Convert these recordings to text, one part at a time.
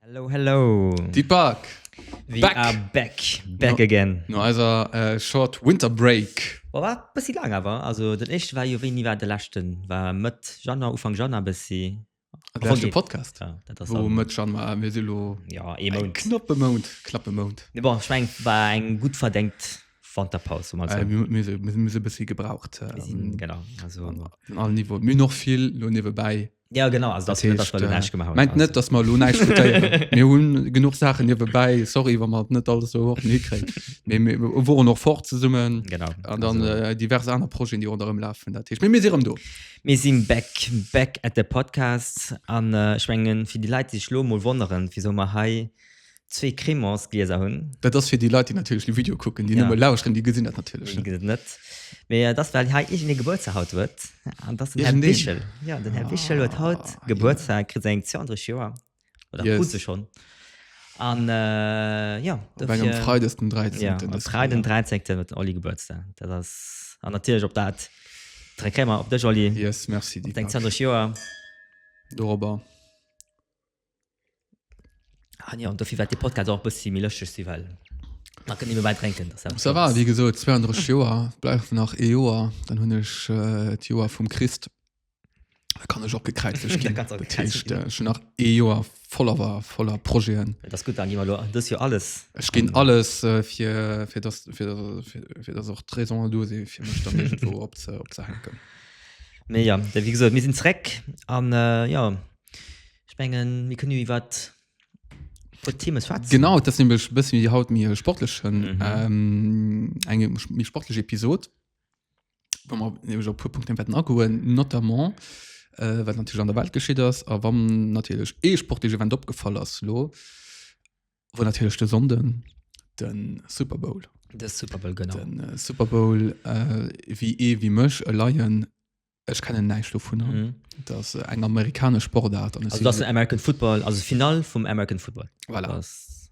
Hello, hello. Deep Park. We back. are back. Back no, again. No eiser äh, short Winter Break. War war bëssi laang awer. Also den éischte war jo wéini war de leschten? War Mëtt Januar, Ufank Januar bëssi. Lauscht de Podcast. Ja, dat ass Wo am- mat schon mal mir silo ja, e eng Mount. knappe Mount, klappe Mount. Nee, bon, ich mein, war eng gut verdenkt Wanterpaus. Um Äh, mir mir se mir se bëssi gebraucht. Ähm, genau. Also, an an all Niveau. Mir noch vill lo niewebäi. ja, genau. Also, das, das, das, das, das, gemacht haben. Meint net, dass mer lo näicht futéieren. Mir hunn genug Sachen niewebäi. Sorry, wann mer net alles so hoch hikréit. Mir mir woren noch fort zesummen. Genau. An dann Also, äh, divers aner Projeten, déi ronderëm lafen. Dat heescht, mir mir si erëm do. Mir sinn back, back at the podcast an ech mengen fir déi Leit déi sech elo emol wonneren wisou mer hei zwee Crémants Glieser hunn. Dat ass fir déi Leit déi natierlech de Video kucken, déi nëmme lauschteren déi gesinn dat natierlech net. Mee et ass well hei iergend ee Gebuertsdag haut huet an et ass den Här Wichel. Jo den Här Wichel huet haut Gebuertsdag, kritt säin 32. Joer. oder yes. krut se schon an äh, ja engem freides den 13 ja, frei den 13 mit olli geburtstag dat ass an natürlich op dat treckmer op der jolly yes merci die denkt durch joer dober an ah, ja und dafür wat die podcast auch bis sie mir lösche sie well trinken so war wie geso 32 Joer bleif nach e Joer dann hunn ech äh, Joer vum Christ Da kann ech och gekräizlech ginn. Dat heescht, äh, schon nach ee Joer voller war, voller Projeten. Dat ass gutt, dann gi mer lo dës Joer alles. Ech ginn alles äh, fir, fir, dass, fir, fir, fir dass och d'Raisonen do si fir mech dann irgendwo op ze, op ze hänken. Mee ja, wéi gesot, mir sinn zréck an äh, ja, ech mengen, mir kënnen jo iwwer wat Themen schwätzen. Genau, dat nämlech bëssen wéi haut méi sportlechen, mhm. ähm, eng méi sportlech Episod. Wa mer nämlech op puer Punkten wäerten agoen, notamment äh, wat natierlech an der Welt geschitt ass a wann natierlech ee sportleche Event opgefall ass lo, wo natierlech de Sonnden den Super Bowl. De Super Bowl genau. Den äh, Super Bowl äh, wéi ee wéi mech e Laien ech kennen näischt dovun an. Mhm. Dass äh, eng amerikanesch Sportart an Also das ist American Football, also Final vum American Football. Voilà. Das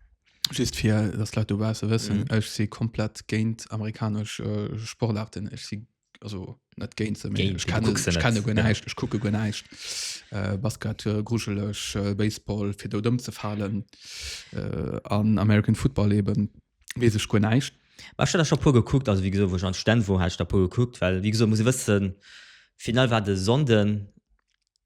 Just fir dass d'Leit dobausse wëssen, mhm. ech si komplett géint amerikanesch äh, Sportarten. Ech si also net géint se, géint, ich kenne, ich kenne go näischt, ja. ich kucke go näischt. Äh, Basket äh, gruschelech, äh, Baseball fir do dëmm ze falen äh, an American Football eben wees ech go näischt. War schon schon pur geguckt also wie gesagt, wo schon Stand wo hast da pur geguckt weil wie gesagt, muss wëssen final war de sonden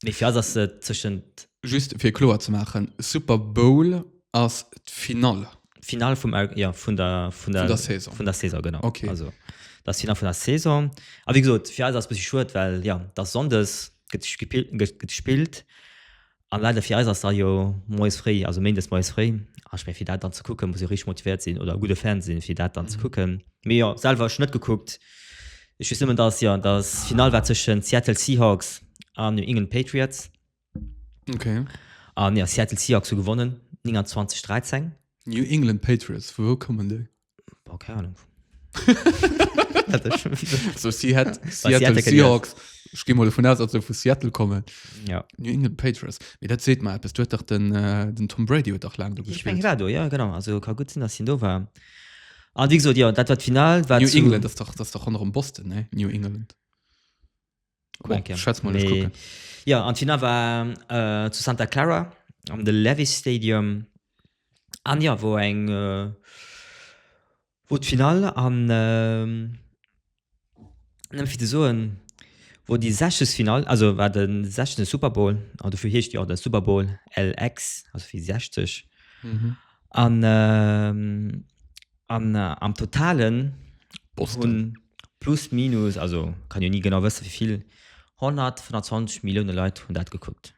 Mee fir eis ass se tëschent. Just fir kloer ze maachen, Super Bowl ass d'Finall. D'Finall vum, jo, vun der, vun der. Vun der Saison. Vun der Saison, genau. Okay. Also, dat ass d'Finall vun der Saison. A wéi gesot, fir eis ass e bëssi schued, well, jo, et ass Sonndes, gëtt gepillt, gëtt gespillt. A leider fir eis ass da jo moies fréi, also méindes moies fréi. A ech meng, fir dat dann ze kucken, muss ee richteg motivéiert sinn oder e gudde Fan sinn, fir dat dann ze kucken. Mee jo, selwer hu ech net gekuckt. Ech weess nëmmen, datt, jo, datt d'Finall war tëschent Seattle Seahawks an New England Patriots. Okay. An jo, Seattle Seahawks hu gewonnen, 29, 13. New England Patriots, vu wou kommen déi? Boah, keng Ahnung. Dat ass schon wieder- Also si hätt, Bei Seattle Seattle kenn i Seahawks, ech gi mol dovun aus, datt se vu Seattle kommen. Ja. New England Patriots, mee dat seet mer eppes, do huet dach den, den Tom Brady huet dach laang do Ich meng, hie gespilt. war do, jo, genau. Also ka gutt sinn, datt hien do war. An wéi gesot, jo, dat war d'Final. War New zu, England, das doch, das doch ronderem Boston, ne? New England. Cool, oh, schätz mal, nee. gucken. Ja, an d'Final war äh, zu Santa Clara am The Levis Stadium. An ja, wo eng äh, wo d'Final an äh, Nëmme fir ze soen, wou déi 60. Finall, also war de 60. Super Bowl, an dofir heescht jo och de Super Bowl LX, also wéi 60. An am Totalen hunn plus minus, also kann jo ni genau wësse wéi vill, 125 Millioune Leit hunn dat gekuckt.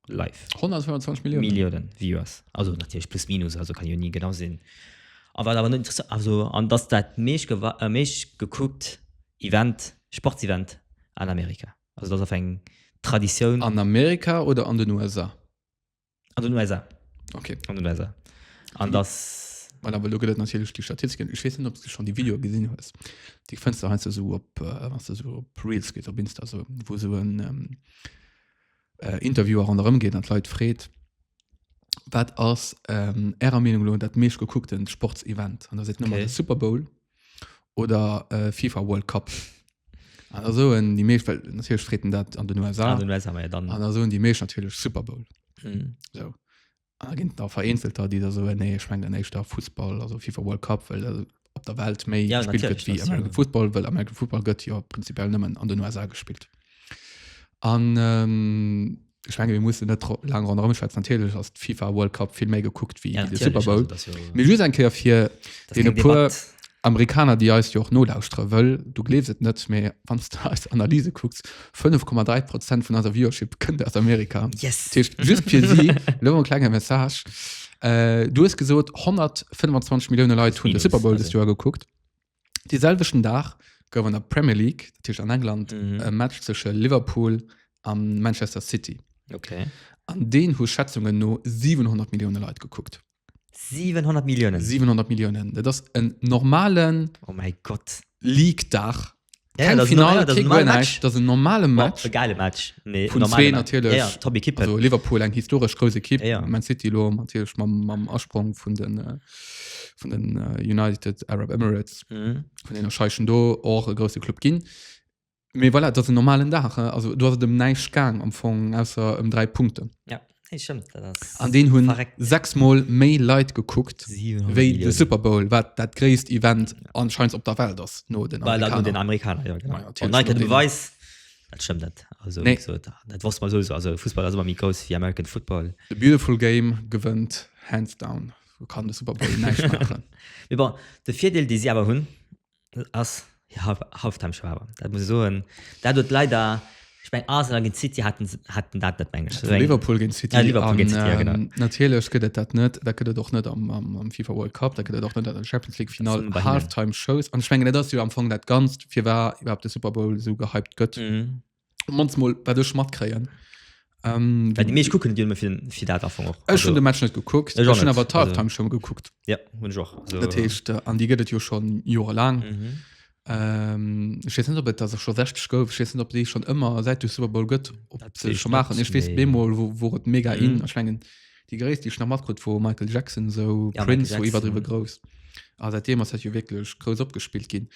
live 125 Millionen Millionen Viewers also natürlich plus minus also kann jo nie genau sinn a wat awer net interessa- also an dass dat meescht gewa- äh, meescht gekuckt Event Sportsevent an Amerika also das auf eng Traditioun an, an Amerika oder an den USA an den USA okay an den USA an dass Voilà, well do gëtt et natierlech déi Statistiken. Ech weess net, ob s du schon déi Videoe gesinn hues. Déi fënns du heiansdo esou op, äh, wann s du esou op Reels gees op Insta esou, wou esou en, ähm, äh, Interviewer ronderëm geet an d'Leit freet, wat ass ähm, Ärer Meenung lo dat meescht gekuckten Sportsevent? An da seet nëmmer okay. de Super Bowl oder äh, FIFA World Cup. An da soen déi meescht, well natierlech freet en dat an den USA, Ah, den USA, ja, dann. an da soen déi meescht natierlech Super Bowl. Mhm. So. Ah, ginn da vereenzelter, déi da soen, nee, ech mengen éischter Fussball, also FIFA World Cup, well äh, op der Welt méi Ja, gespillt gëtt natürlich, wéi das, American ja. Football, well American Football gëtt jo prinzipiell nëmmen an den USA gespillt. An ähm, ech menge mir mussen net tro- laang ronderëm schwätzen, natierlech ass d' FIFA World Cup vill méi gekuckt wéi Ja, de natürlich, Super Bowl. also, das ist ja- Mir just eng Kéier fir das ist dee kein puer Debatt. Amerikaner, déi eis jo och nolauschtere, wëll du gleefs et net, mee wann s de eis Analyse kucks, 5,3 Prozent vun eiser Viewership kënnt aus Amerika. Yes. Dat heescht, just fir si, lo en klenge Message. Äh, du hues gesot, 125 Millioune Leit hunn de Villes, Super Bowl dëst also. Joer gekuckt. De selwechten Dag gouf an der Premier League, dat heescht an England, Mhm. e Match tësche Liverpool a Manchester City. Okay. An deen hu Schätzungen no 700 Millioune Leit gekuckt. 700 Milliounen. 700 Milliounen. Dat ass en normalen Oh mein Gott. League-Dag. Ja, Keng das ist Final, normal, das ist kee ein normaler Goal, Match. näischt. Dat ass en normale Boah, Match. e geile Match. Nee, Vun normale zwee Match. natierlech. Ja, ja, top Equipe. Also Liverpool eng historesch grouss Ekipp. Ja, ja. Man City lo natierlech mam, mam Asprong vun den, äh, vun den äh, United Arab Emirates, Mhm. vun enger Scheischen do och e grousse Club ginn. Mee voilà, dat ass en normalen Dag. Äh. Also do ass et ëm näischt gaang am Fong ausser ëm dräi Punkten. Ja. Hey, stimmt, an den hun sechs mal méi Lei gekuckt wéi de Super Bowl wat dat gréisst Event anscheinend op der Welt das no den Amerikaner. Den Amerikaner ja, genau. Ja, Nein, du weißt, das stimmt net also, nee. so, das, das was man so also Fußball also mi groß wie American Football The beautiful game gewënnt hands down kann de Super Bowl de Vierdeel die sie aber hunn ass Halftime Schwaber dat muss soen dat huet leider ich mein, Arsenal gegen City hatten hatten dat net mengesch Liverpool gegen City, ja, Liverpool gegen City an, ja, ähm, natürlich gëtt dat net da gëtt doch net am, am, am FIFA World Cup da gëtt doch net an Champions League final Halftime Shows an schwngen das am Fong dat ganz fir war überhaupt de Super Bowl so gehypt gëtt mhm. mans mol wat ech matkréien ähm, Well die meesch kucken dir fir fir dat Anfang och. Ech hun de Match net gekuckt Ech och net, awer also- Time schon gekuckt Ja hunn ech och. Also, Dat heescht äh, an die gëtt et jo schon Joer lang mhm. ähm, ich wees net op et dat schon 60 gouf ich wees net op déi schon ëmmer seit du Super Bowl gëtt op Dat se wees schon net, machen ich wees nee. bemol wo, wo et mega Mhm. in erschwngen die gréisst die nach matkrut wo Michael Jackson so Ja, Michael Prince wo iwwer Jackson. driwe groß a seitdem ass dat jo wirklich groß opgespielt ginn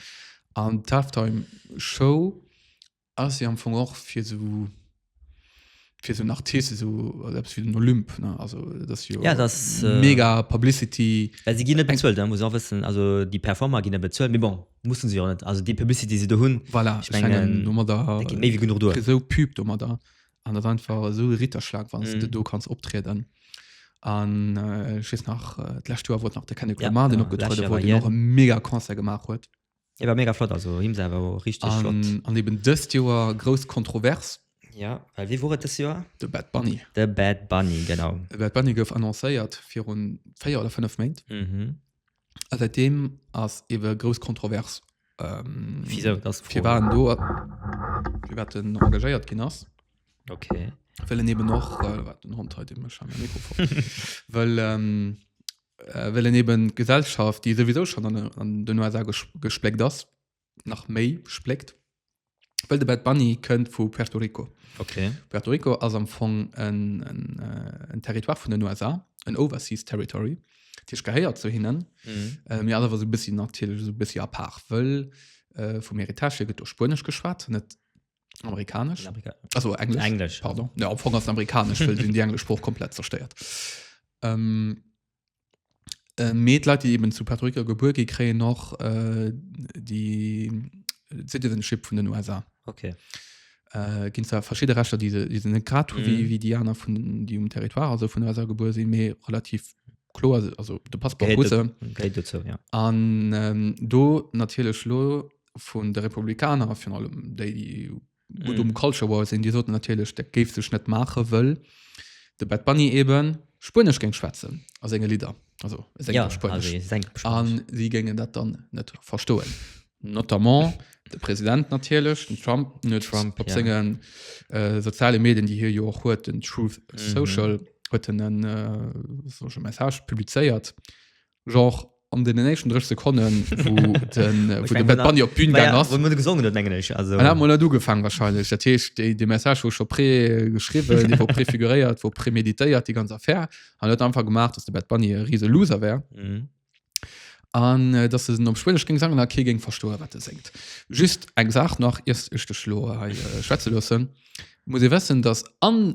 an d'Halftime Show ass jo am Fong och fir so fir so en Artist so also eppes wéi den Olymp ne also dat ass jo Ja, dat ass, äh, mega Publicity Well si ginn net bezuelt, dat muss een och wëssen. Also déi Performer ginn net bezuelt, mee bon, musse se jo net. Also déi Publicity déi se do hunn, voilà ech mengen, mengen domadder dat geet méi wéi genuch duer. esou Pub domadder an dat ass einfach esou e Ritterschlag wann s de Mhm. do kanns optrieden an äh, ech weess nach äh, d'lescht Joer wor et nach de Kendrick Ja, Lamar deen genau, opgetruede lescht Joer wor war deen och hien. e mega Concert gemaach huet Et war mega flott, also Hymns awer o richteg flott. An, an eben dëst Joer grouss Kontrovers. Ja, well wie wor et dës Joer? De Bad Bunny. De Bad Bunny, genau. De Bad Bunny gouf annoncéiert virun 4 oder 5 Méint. Mhm. A säitdeem ass ebe grouss Kontrovers. Ähm, Wisou, dat ass d'Fro. Firwat en do, firwat en engagéiert ginn ass. Okay. Well en eben och, äh, wat den Hond hei, dee mécht scheinbar e Mikrofon. Well, ähm, well en eben d'Gesellschaft, déi souwisou schon an, an den USA gespléckt ass, nach méi spléckt. Well de Bad Bunny kënnt vu Puerto Rico. Okay. Puerto Rico ass am Fong en, en, äh, en Territoire vun den USA, en Overseas Territory. D'Tisch gehéiert zu hinnen, mhm. äh, mir awer so e bëssi natierlech so e bëssi apart, wëll äh, vum Heritage hier gëtt do Spuenesch geschwat, net Amerikanesch. Amerika Also Englisch. Englisch. Pardon. Ja, am Fong ass amerikanesch, weil den die englische Spruch komplett zerstört. Ähm, äh, mit Leute, die eben zu Puerto Rico geboren gehen, kriegen noch äh, die Citizenship von den USA. Okay. Äh, gehen zwar verschiedene Rechte, die sie, die sie nicht gerade haben, Mhm. wie, wie die anderen, von, die um Territoire, also von den USA geboren sind, mehr relativ klar, also der Passport Gehört Russe. dazu- Gehört dazu, ja. An ähm, do natierlech lo vun de Republikaner vun allem déi déi gut um Culture War sinn, Dir soten natierlech dat géif sech net maache wëll de Bad Bunny eben Spuenesch géing schwätzen a senge Lidder also a senge Ja, Spuenesch. also seng An Spuenesch. si géingen dat dann net verstoen. Notamment de President natierlech, den Trump, en huet Trump, op ja. sengen äh, soziale Medien, déi hie jo och huet, den Truth Social, huet en en äh, sollech e Message publizéiert, Genre an den nächsten 30 Sekunden wo den, äh, wo den Bad Bunny op d'Bühn gegangen ass. Wo du gesungen huet, mengen ech. Also, An hat mal net ugefangen wahrscheinlich. Dat heescht, de, de Message wo schon pré geschrieben, de wo préfiguréiert, wo préméditéiert, die ganz Affär. An huet einfach gemacht, dass de Bad Bunny e riese Loser wär. Mhm. An äh, dass se den op Schwedisch ging sangen, a kee ging verstoen, wat de singt. Just eng Saach nach, iers ech dech lo hei äh, schwätze loossen. Muss ee wessen, dass an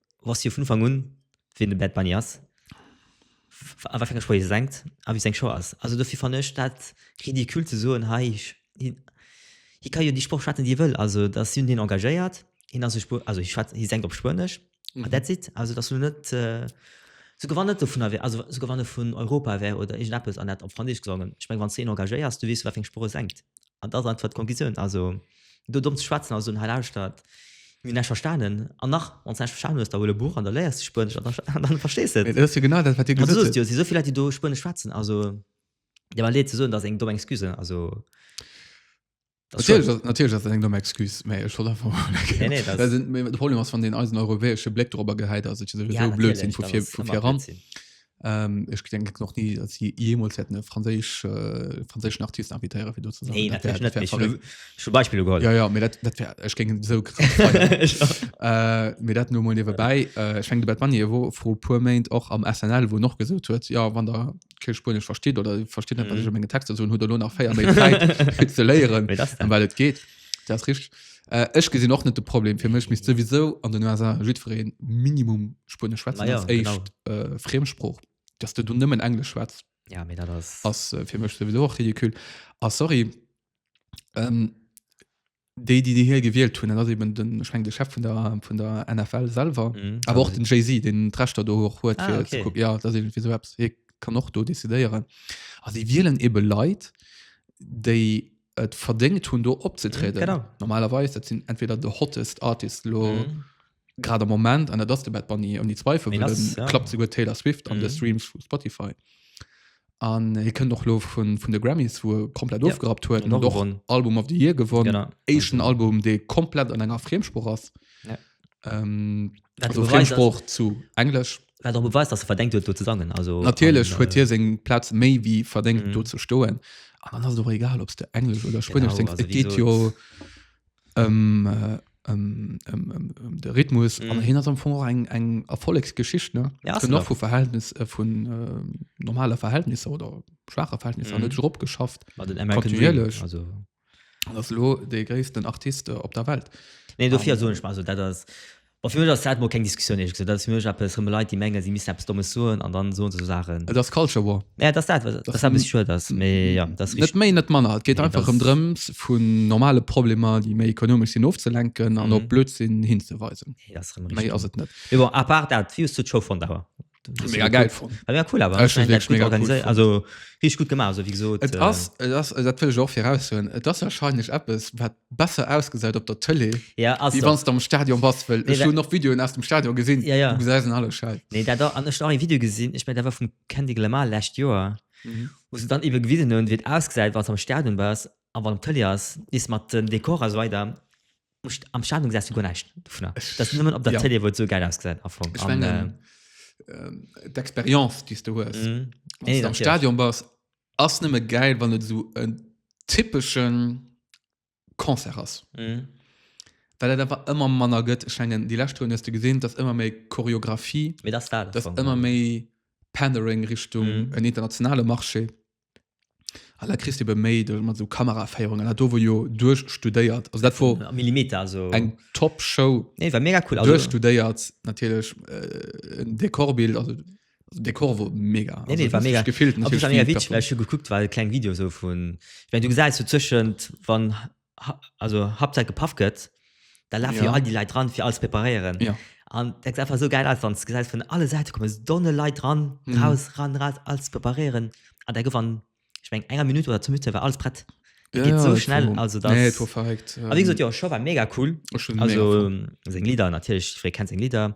wosst jo vun Ufank un, wien de Bad Bunny ass, a wat fir enger Sprooch hie sengt a wéi seng Show ass. Also dofir fannen ech dat ridicule ze soen, hei, hie ka jo déi Sprooch schwätzen, déi hie wëll. Also da sinn hien engagéiert, hien ass e Spuener, also hie schwätzt, hie sengt op Spuenesch a that's it. Also et ass elo net, souguer wann net dovunner wär, also souguer wann e vun Europa wär oder iergendeppes an hätt op Franséisch gesongen, ech meng, wann s de een engagéiers, du weess jo, wat fir eng Sprooch e sengt. An dat ass einfach d'Conclusioun. Also, do domm ze schwätzen a soen, Hei lauschtert, mir hunn näischt verstanen. An nach, wann s de näischt verstanen hues, da huel e Buch an da léiers de Spuenesch an da, dann verstees de et. Mee dat ass jo genau dat, wat Dir gesot hutt. An du sot jo, et si esou vill Leit, déi do Spuenesch schwätzen. Also, et deet mer leed ze soen, dat ass eng domm Excuse. Also, dat ass schued. Natierlech, natierlech ass dat eng domm Excuse. Mä ech wollt einfach emol eng Kéier. Nee, nee, dat ass. Mee de Problem ass, wann een eisen europäesche Bléck dorobber gehäit, ass et jo souwisou Blödsinn vu vir, vu viran. Ähm, ech gedenken noch nie, dass sie jemals hätten einen französisch, äh, französischen Artist invitéieren, fir do ze sinn. Nee, Dat wär- natierlech dat net. wär Ich verrückt. hun schon Beispieler geholl. Ja, ja, mir dat, dat wär, ich ging so krass feiern. Ich auch. äh, mir dat nur mal nebenbei. Äh, ich denke, Bad Bunny wo vor paar Moment auch am SNL, wo noch gesagt huet, ja, wann der kein Spanisch versteht oder versteht nicht, was Mhm. ich an meinen Texten so, huet er lo nach 4 Monate Zeit, für zu lehren, Nee, das dann. um weil es geht. Dat rich äh, Ech gesinn och net de Problem fir mech mis souwisou an den USA jiddwereen Minimum Spuenesch schwätzen ja, als éischt äh, Friemsprooch. Dass du du nëmmen Englesch schwätz. Ja mé dat ass ass äh, fir mech souwisou och ridikül. A ah, sorry ähm, déi déi hir gewielt hunn, ass eben den schwng de Chef vun der vun der NFL selver mhm, aber och den Jay-Z den Trechtter do hoch huet ah, okay. guck, ja, dat fir so kann och do decidéieren. A si wieelen ebe Leiit déi et verdéngt hunn do opzetrieden. Genau. Normalerweis dat sinn entweder de hottest Artist lo Mhm. grad am Moment an dat ass de Bad Bunny ouni Zweifel Deen well ass, den ja. klappt souguer Taylor Swift an de Mhm. Streams vu Spotify. An hie kënnt och lo vun vun de Grammys wou e komplett Ja. ofgerappt huet Huet an och och gewonnen. Album of the Year gewonnen. Genau. Éischten Also, Album dee komplett an enger Friemsprooch ass. Ja. Ähm, wat also beweist, dass- Friemsprooch zu Englesch. Wat och beweist, dass e verdéngt huet, do ze sangen. Also, Natierlech huet hie seng Plaz méi wéi verdéngt, mhm. do ze stoen. An dann ass och egal, ob du Englesch oder Spënnesch singst. Et geet jo ëm äh, ähm, ähm, ähm, ähm, de Rhythmus mm. an hin am Fong eng eng Erfollegsgeschicht ne ja, noch vu Verhältnis äh, vun äh, normale Verhältnisse oder schwache Verhältnisse mm. net drop geschafft kontinuierlech also An ass elo dee gréissten Artist op der Welt. Nee, dofir soen ech mer, also dat ass, bon fir mech ass dat mol keng Diskussioun ehrlech gesot. Dat ass fir mech eppes, rëm Leit déi mengen si missten eppes Dommes soen an dann soen se esou Saachen. Et ass Culture War. Ja et ass dat, wat e bëssi schued ass, mee jo dat ass richteg. Net méi net manner, et geet einfach rëm drëms vun normale Problemer déi méi ekonomesch sinn ofzelenken an op Blödsinn hinzeweisen. Méi ass et net. Mee bon à part dat, wéi hues du d'Show fonnt awer? mega geil fand ja, cool aber also richtig gut gemacht also wie gesagt et äh, ass, et ass, dat will ich auch heraus hun et ass wahrscheinlich Apps wat besser ausgeseit op der Tele ja also wann am Stadion was will nee, noch Videoen aus dem Stadion gesinn ja, ja. alle Schall. nee da da an ein Video gesinn ich mein da war vom Candy Glamar last Joer mhm. wo sie dann eben gewiesen hun wird ausgeseit was am Stadion war aber am Tele ass is mat den Dekor so weiter Am Stadion gesehst du gar nicht davon. Das ist nur auf der ja. Tele, wo es so geil ausgesehen hat. Ich an, meine, äh, äh, die Experience, die du hast, mm, wenn du am Stadion bist, ist nicht mehr geil, wenn du so einen typischen Konzert hast. Mm. Weil er einfach immer manner gëtt schenngen die letzte Runde hast du gesehen, dass immer mehr Choreografie, das da das immer mehr Pandering Richtung mm. en internationale Marché. An da kriss de be méi de mat so Kameraféierung an dat do wor jo duerchstudéiert. Also dat wor Millimeter also eng top Show. Nee war mega cool. Also duerchstudéiert natierlech äh, en Dekorbild also Dekor wor mega. Nee, nee, war mega. Gefillt, also, war mega witzig, well ech hu gekuckt war e kleng Video so vun, ich mein, du gesäis so zwëschent wann also Hauptsache gepafft gëtt, da lafen ja. ja all die Leute dran, für alles präparieren. Ja. Und das sieht einfach so geil aus, wenn du siehst, von alle Seiten kommen so Donne Leute dran, mhm. raus, ran, raus, alles präparieren. Und dann gewann, ich meine, eine Minute oder zwei Minuten war alles prett. Ja, geht so schnell, war, also das. Nee, das war verrückt. Aber wie gesagt, ja, Show war mega cool. Schon also, mega cool. Lieder natürlich, ich kenne seine Lieder.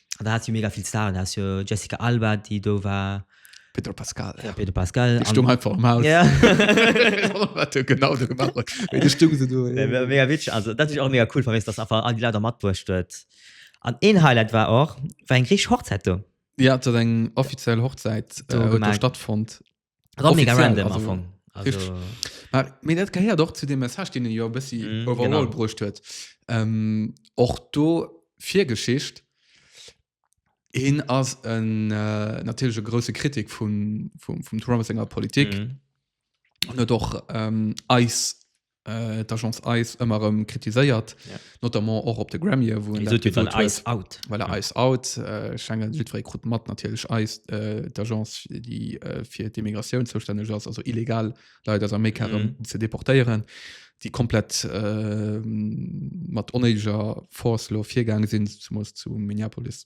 an da hat jo mega vill Staren da jo Jessica Alba déi do war Pedro Pascal ja. Pedro Pascal die stung einfach am Haus ja. genau so gemacht die stung so du, ja. mega witzig also das ist auch mega cool vermisst das einfach an die Leute matwurscht wird an ein Highlight war auch war ein griech Hochzeit du ja zu eng offiziell Hochzeit äh, stattfund War mega Offiziell, random am also, Fong. Also, Ma, mir dat gehéiert och zu dem Message den e jo e bëssi Mhm, mm, overall genau. genau. bruecht huet ähm, och do Virgeschicht hin ass en äh, natürlich e grosse Kritik vum, vum, vum Trump senger Politik mm. mhm. huet och ähm, eis äh, d'Agence Eis ëmmer erëm kritiséiert, Ja. notamment och op de Grammye, wou en Wieso dat tut dann gesot huet. Ice out? Well er Eis out, äh, Schengen, jiddweree krut mat, natierlech Eis, äh, d'Agence, déi äh, fir d'Immigratioun zoustänneg ass, also illegal Leit aus Amerika erëm Mhm. ze deportéieren, déi komplett äh, mat onéideger Force lo virgaange sinn, zumools zu Minneapolis.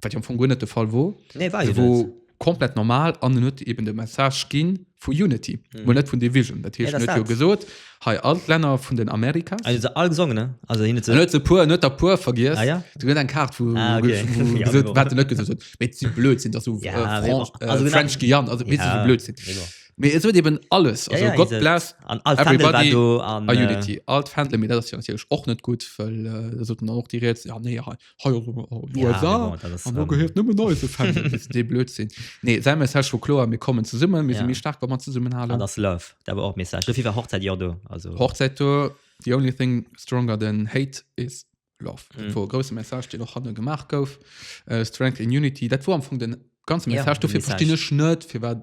wat jo am Fong guer net de Fall wor, nee, war se wor komplett normal an en huet eben de Message ginn vu Unity, mm. net vun Division. Dat hiecht net jo gesot hei all Länner vun den Amerika also, all gesongen ne also, hin ze net ze puer net der puer vergiers ah, ja? du gët eng Kart vu ah, okay. wat net gesot met si blöd sinn dat du ja, äh, Fran äh, also, French Gian also wit ja. blöd sinn. Me es huet eben alles also, ja, ja, Gott bless an all everybody do, an, äh, Unity alt Fan mir dat och net gut wëll äh, soten och Di Rätsel ja, nee, ja, hei ass ëmmer oh, Ja, USA bon, dat ass, an do ähm, gehéiert nëmmen neise Fan dee blöd sinn nee säi Message wor kloer mir kommen zesummen mir Ja. si méi staark wa mat zesummen halen an ass love dat war och Message dofir war Hochzeit jo do also Hochzäit do the only thing stronger than hate is love dat Mhm. wor e grouse Message deen och hanne gemaach gouf äh, Strength in Unity dat wor am Fong den ganze Ja, Message den dofir Message. verstinn ech net fir wat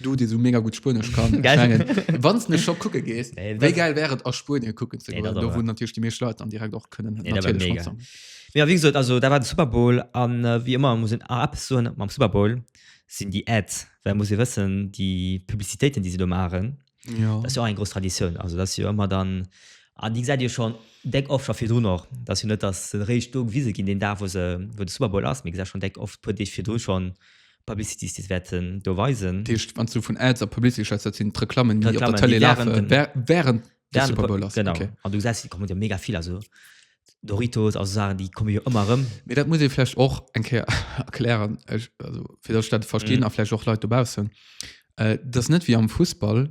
Du, dee sou mega gutt Spuenesch kann, ech Gell? mengen, wann s de scho kucke gees, Nee, wéi dat- gäil wär et a Spuenie kucken ze Nee, dat goen, do ass wou wahr. natierlech déi meescht Leit dann direkt och kënnen Nee, dat wär natierlech mega. matsangen. Mee a wéi gesot, also dat war de Super Bowl an äh, wéi ëmmer muss een a eppes soen mam Super Bowl, sinn déi Ads, well muss ee wëssen, déi Publicitéiten, déi si do maachen, Ja. Dat ass jo och eng grouss Traditioun. Also dat ass jo ëmmer dann, an déi gesäit Dir schonn déck oft scho virdrun och. Dat ass jo net, datt se eréischt do gewise ginn, deen Dag, wou se, wou de Super Bowl ass, mee Dir gesäit schonn déck oft e puer Deeg virdru schonn Publicities, déi se wäerten do weisen. Dat heescht, wann s du vun Ads a Publicity schwätz, dat sinn d'Reklammen, déi op der D'Reklammen, déi Tëlee lafe während dem, während de während de, Super Bowl ass. genau. Okay. An du gesäis, et kommen der mega vill. Also Doritos, also Saachen, déi komme jo ëmmer erëm. Mee dat muss ee vläicht och eng Kéier erklären, ech, also fir datt ech dat verstinn a vläicht och Leit dobaussen. Et ass net wéi am Fussball,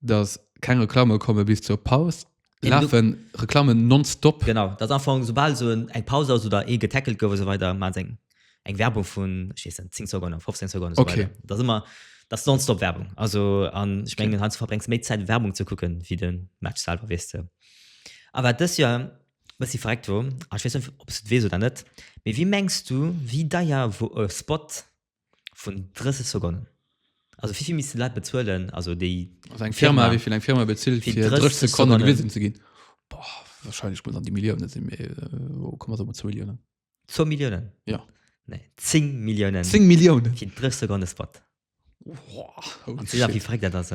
datt keng Reklamme komme bis zur Paus. Et Eben, du- lafe Reklammen nonstop. Genau, dat ass am Fong, soubal esou en eng Paus ass oder ee getackelt gouf a sou weider, maachen se eng eng Werbung vun 10 Sekunde, 15 Sekunde so okay. das immer das nonstop Werbung also an ich mengen okay. verbrengs méi Zeit Werbung zu gucken wie den Match selber wisst du aber das ja was sie fragt wo ob we oder net wie wie mengst du wie da ja wo äh, Spot vun 30 Sekunden also wie viel miss Lei bezuelen also die also eng Firma, Firma wie viel eng Firma bezielt für 30 Sekunden, Sekunden gewesen zu gehen Boah, wahrscheinlich muss an die Millionen sind mir äh, wo kommen so zu Millionen 2 Milliounen? Ja. Nee, 10 Milliounen. 10 Milliounen? Fir 3 Sekonde Spot. Wow. An ze wie fréck dat ass.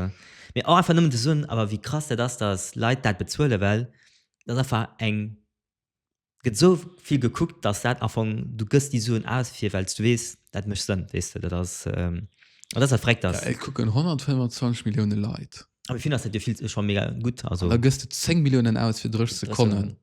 Mee och einfach nëmmen ze soen, awer wéi krass dat ass, datt Leit dat bezuele well dat einfach eng gëtt esou vill gekuckt, datt dat Anfang du gëss déi Suen aus fir well du weess dat mécht Sënn weess de dat ass an dat ass fréck datt. Et kucken 125 Millioune Leit. A fir vill ass dat jo vill scho mega gutt also. Da gëss de 10 Milliounen aus fir 3 Sekonnen.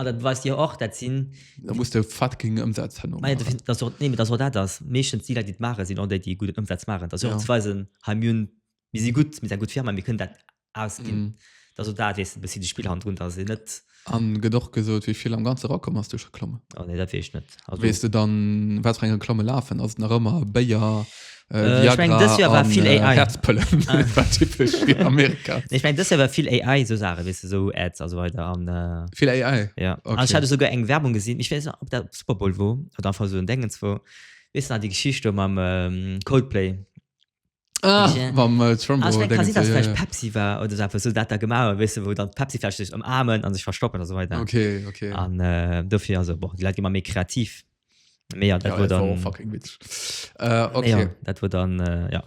An dat beweist jo och, dat sinn. Da muss de fucking Ëmsaz herno maachen. Mä dat ass jo, nee, mä dat ass jo dat ass. Meeschtens déi Leit, déi et maachen, sinn och déi, déi gudden Ëmsaz maachen. Dat ass jo och ze weisen, hei mir hunn, mir si gutt, mir si eng gutt Firma, mir kënnen dat ausginn. Dat ass jo dat, weess de, e bëssi de Spillhandrun, dass een net. A gëtt och gesot, wéi vill am Ganze erakomm ass duerch Reklamme? Oh nee, dat weess ech net. Also, Weess de dann, wat fir eng Reklamme lafen? Ass et nach ëmmer Béier, äh, Äh, ich mein, Viagra dës Joer war an, vill äh, AI. Herzpëllen? Ah. Dat war typesch fir Amerika. Nee, ich mein, das war viel AI, so Sachen, weißt du, so Ads, also weiter. An, äh, Vill AI. ja. Okay. Und ich hatte sogar eng Werbung gesehen, ich weiß nicht, ob das Super Bowl war oder einfach so ein Dingens war. Weißt du, noch die Geschichte mit ähm, Coldplay, Ah, Ja. mam äh, Trumbo. Ah, ich mein, kann Dingens, sein, dass ja, vielleicht ja. Pepsi war oder so etwas, so dat da gemacht hat, weißt du, wo dann Pepsi vielleicht sich umarmen und sich verstoppen und so weiter. Okay, okay. Und äh, dafür, also, boah, die Leute gehen immer mehr kreativ. Mehr, ja, das ja, war das war auch dann, fucking witzig. Äh, okay. ja, das war dann, äh, ja.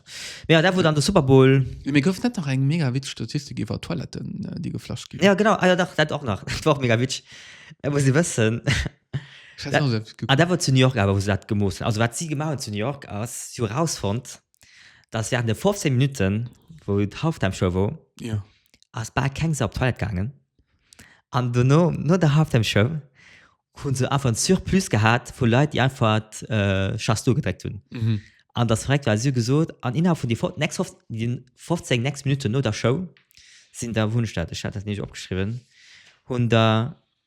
Ja, das war dann der Super Bowl. Mir gouf net nach eng mega wit Statistik iwwer Toiletten äh, die geflascht gi Ja, genau, ah, ja, doch, das auch noch. Das war auch mega witzig. Äh, muss ich wissen, Ich weiß nicht, ob es Ah, dat war zu New York awer, wou se dat gemooss hunn. Also wat si gemaach hunn zu New York ass, si hu erausfonnt, datt während de 15 Minutten, wou d'Halftime-Show wor, Ja. ass bal keng Sau op d'Toilette gaangen. An dono, no der Halftime-Show, hu se einfach en Surplus gehat vu Leit, déi einfach äh, Just Do gedréckt hunn. Mhm. An dat ass verréckt, well si hu gesot, an innerhalb vun déi fo- next fof- déi 15 next Minutten no der Show sinn der, wou hunn ech dat? Ech hat dat nämlech opgeschriwwen, hunn der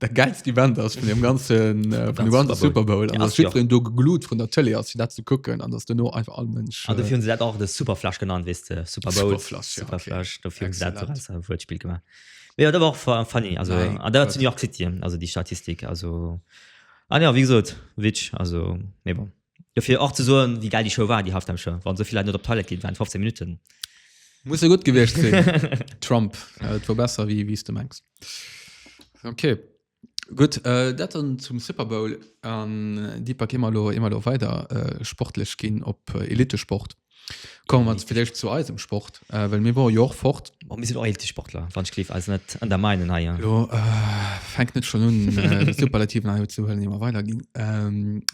der geilste Event ass vun dem ganzen äh, vun dem ganze Super Bowl an ass jiddwereen do geglutt vun der Tëlee ass fir dat ze kucken an ass duerno einfach all Mënsch. An ah, dofir hunn se dat och de Superflash genannt, wees de Super Bowl Superflash, ja, Superflash okay. dofir hunn se dat als äh, Wuertspiel gemaach. Ja, dat war auch funny also Nein, an der zu New York City also die Statistik also ah, ja, wie gesagt, Witsch also nee, bon. Dofir och ze soen, wéi gäil déi Show war, déi Halftime Show, wann esou vill Leit net op d'Toilette ginn waren, 15 Minutten. Muss jo gutt gewiescht sinn. Trump, et wor besser wéi wéi s de mengs. Ok, gutt, dat dann zum Super Bowl. An Deepak, ier mer elo, ier mer elo weider sportlech ginn op Elitesport, Komme mer villäicht zu eisem Sport, well mir wore jo och fort. Bon, mir sinn och eelte Sportler, wann ech géif eis net ënnermeinen hei. Jo, fänkt net schonn un Superlativen hei unzehuelen, ier mer weiderginn.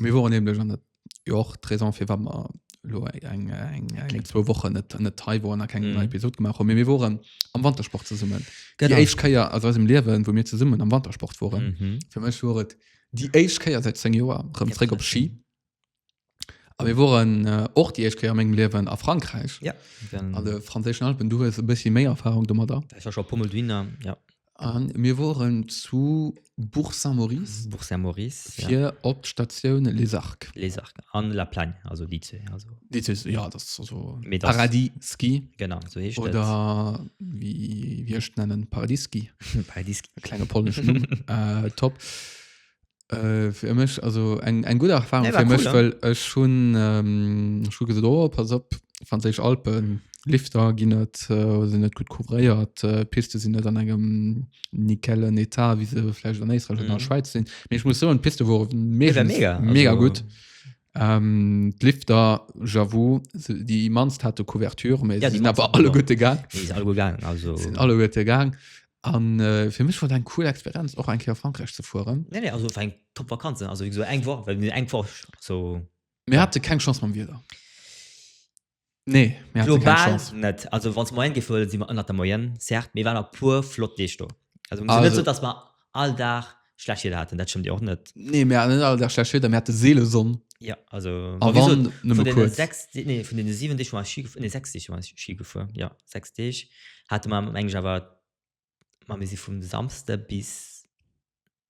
Mir woren nämlech, an dat jo och d'Raison fir wat mer elo eng, eng, eng, zwou Wochen net, net hei woren a keng nei Episod gemaach hunn, mee mir woren am Wantersport zesummen. Déi éischt Kéier aus eisem Liewen, wou mir zesummen am Wantersport woren. Fir mech wor et déi éischt Kéier säit zéng Joer erëm zréck op Ski. A mir woren och déi éischt Kéier a mengem Liewen a Frankräich. Ja, an de franséischen Alpen. Du hues e bëssi méi Erfarung domadder. Ech war scho e puer Mol dohinner, ja. A mir woren zu Bourg-Saint-Maurice. Bourg-Saint-Maurice, ja. Fir op d'Statioun Les Arcs. Les Arcs an La Plagne, also déi zwee. Déi zwee, ja, dat ass also Paradis Ski. Genau, esou heescht et. Oder wéi ech et nennen, Paradis Ski. Paradis Ski. Klenge polnesche Numm, top. Äh, fir mech also eng eng gutt Erfahrung nee, fir mech cool, well ech schon ähm, schon gesot oh, pass op franséisch Alpen Lifter ginn net äh, sinn net gut couvréiert äh, Piste sinn net an engem nikellen Etat wie se vläicht an Éisträich mm. an der mhm. Schweiz sinn. Mee ich muss so en Piste wor mega, mega, mega also, gut. Ähm, d'Lifter, j'avoue, se- déi immanst hat de Couverture, méi Ja, se déi sinn awer mannst, alle ja. gutt egaang. Nee, is all guer gaangen, also. sinn alle gutt egaang. An äh, fir mech war dat eng cool Experienz, och eng Kéier a Frankräich ze fueren. Nee, nee, also war eng top Vakanz, ne? Also wéi gesot, eng Woch, well mir eng Woch so. Mir hate keng Chance mam Wieder. Nee, mir haten keng Global Chance. net. Also wann se Moyenne géif huelen, si mer ënnert der Moyenne, certes, mee waren a puer flott Leeschtung. Also also net Also- sou, datt mer all Dag schlecht Wieder haten, dat stëmmt jo och net. Nee, mir haten net all Dag schlecht Wieder, mir hate seele Sonn. Jo, also A ma wéi wann, gesot, nëmme vun deene kuerz. sechs, Dee- nee, vun deene siwen Deeg, wou mer Schi gefu, nee, sechs Deeg, wou mer Schi gefuer, jo, sechs Deeg hate mer, meng ech awer, ma mir si vum Samsde bis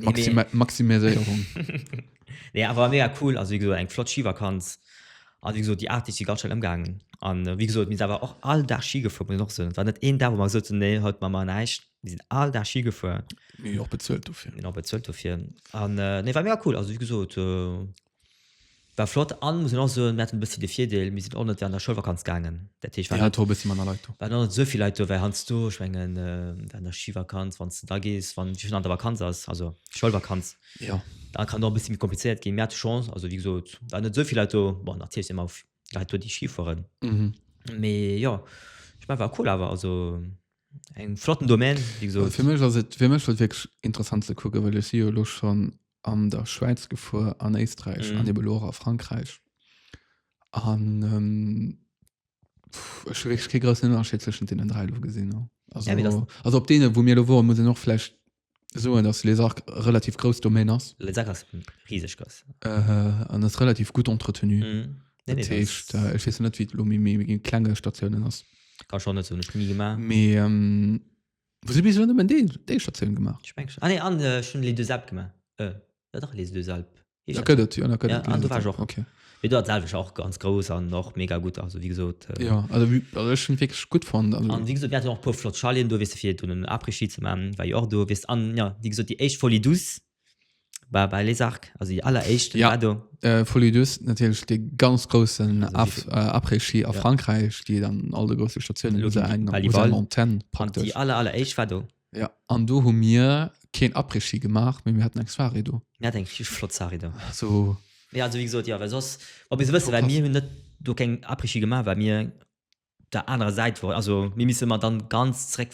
Maxima nee. Maximiséierung. nee, awer mega cool, also wie gesot eng flott Skivakanz. An wie gesot déi Art, déi si ganz schnell ëmgaangen. An äh, wie gesot mis awer och all Dag Ski gefuer muss och sinn. War net een Dag, wo mer gesot hunn, nee, haut ma mer näischt. Mir sinn all Dag Ski gefuer. Mir och bezuelt dofir. Mir och bezuelt dofir. An äh, nee, war mega cool, also wie gesot. Äh, War flott an muss een och soen mir haten e bëssi de Virdeel mir sinn och net an der Schoulvakanz gaangen dat heescht waren och net esou vill Leit do well hanzdo ech mengen an der Skivakanz wanns de da gees wann schonn an der Vakanz ass also Schoulvakanz da kann och e bëssi méi komplizéiert ginn. Mir hate Chance also wéi gesot waren net esou vill Leit do bon natierlech si mer och Leit do déi Ski fueren mee jo ech mengen war cool awer also eng flotten Domaine wéi gesot. Fir mech ass et fir mech ass et wierklech interessant ze kucken well ech si jo elo schonn an der Schwäiz gefuer an Éisträich mhm. an eben Lora Frankreich an ähm, Unterschiedschen den drei gesinn no also, ja, das, also op denen wo mir lo wo muss noch vielleicht so dass les auch relativ groß Domain ass riesig äh, an das relativ gut entretenu mhm. nee, nee, heißt, das, äh, ich weiß net wie klenge Stationen ass kann schon net so gemacht. Mais, ähm, Wou si bis elo nëmmen dee, déi Statioun gemaach? Ech mengen schon. Ah nee, an ech hun Les Deux Alpes gemaach. Äh, jo dach, Les Deux Alpes heescht Dat dat. gëtt et, jo, dat gëtt Ja, et, an Les do Deux war ech Alpes, och. okay. Mee do war d'Selwecht och ganz grouss an och mega gutt, also wéi gesot. Äh, Jo, also wéi, also ech hunn et wierklech gutt fonnt, also. An wéi gesot, mir haten och e puer flott Chaleten do, weess de, fir dunn en Après-Ski ze maachen, war jo och do, weess de. An jo, wéi gesot, déi éischt Folie Douce, Bei, bei Les Arcs, also die alleréischte ja. war do. Äh, Folie Douce, natürlich de ganz großen also Af, äh, Après-Ski a ja. Frankreich, die dann all de große Stationen lo eng Montagne praktisch. Die aller alleréischt war do. Ja, an do hu mir keen Après-Ski gemacht, mir hatten eng Soirée do. Mir hatten eng flott Soirée do. So. Ja, also wie gesagt, ja, weil sonst, ob ich so wissen, weil mir net do keng Après-Ski gemacht, weil mir op der anerer Säit wor, also mir misse mer dann ganz zréck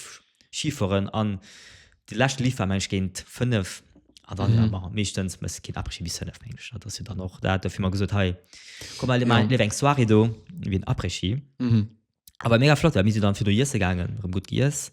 Schifueren an de leschte Lift war mensch géint 5 an dann mhm. war meeschtens mësse kind après bis 5 mensch dat ass jo dann och dat dofir mal gesot hei komm mal ja. eng Soirée do wie après mhm. aber mega flott mis dann fir du jesse gangen rem gut gies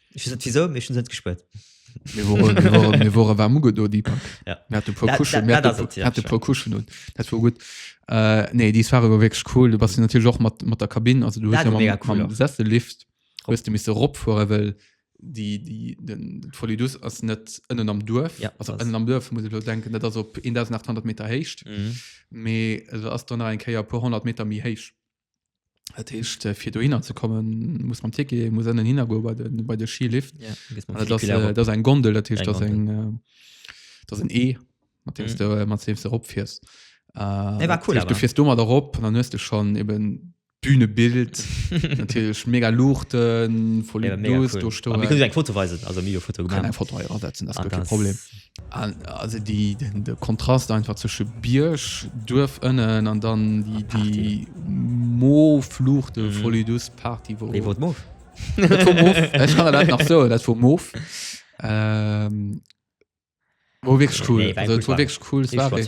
Ich weiß nicht wieso, mir schon sind gespürt. mir woren mir woren mir woren war muge do die pack Ja. mir hatte paar Dat- kuschen dat- mir dat hatte ass et, ja, hatte schon. paar kuschen und dat war gut äh, nee die war wirklich cool du bas natürlich auch mat mat der kabin also du Dat hast ja war mega mam- cool mam auch. sessel lift Rob. wirst du miss rob fuhren well die die den den folidus ass net ënnen am durf Ja, also das- ënnen am durf muss ich bloß denken dat ass op 1800 meter heischt Mhm. me also ass dann nach ein keier paar 100 meter mi heich Dat heescht äh, fir do hinner ze kommen muss man Tike muss ënnen hinnergo bei de bei de Skilift ja, gehst man dat Flickler op. ass eng Gondel dat heescht Eng dat eng äh, dat en E mat deems Mhm. du äh, mat deems du opfiers Nee, war cool, du aber. fiers du mat erop an dann hues du schon eben Bühnebild natürlich mega Luuchten voll Ja, mega Duos cool. do Aber mir können stoen eng Foto weisen also mir Foto kann gemacht eng Foto hei ansetzen das Ah, gëtt kee ganz- Problem Also déi de Kontrast einfach zwësche Bierg, Duerf ënnen an dann déi déi moof Luucht, de Folie douce Party wou. Déi wor et moof. Dat wor moof, ech kann der dat nach soen, dat wor moof. Wor wierklech cool, also et wor wierklech cool, Soirée.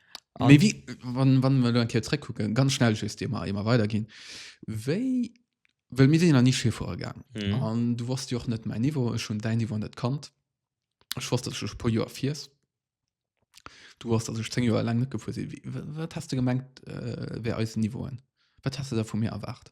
An wie, wann, wann wir lo en Keer zréckkucken, ganz schnell just dir mal immer weitergehen. Wéi, well mir sinn ja nach nie Ski fuere gaang. Mhm. An du wosst jo och net mein Niveau, ech hunn dein Niveau net kannt. Ech wosst, dass du schon e puer Joer fiers. Du wosst, dass ech 10 Joer lang net gefuer sinn. Wie- wa- Wat hast du gemengt, äh, wär eisen Niveauen? Wat hast du da vu mir erwart?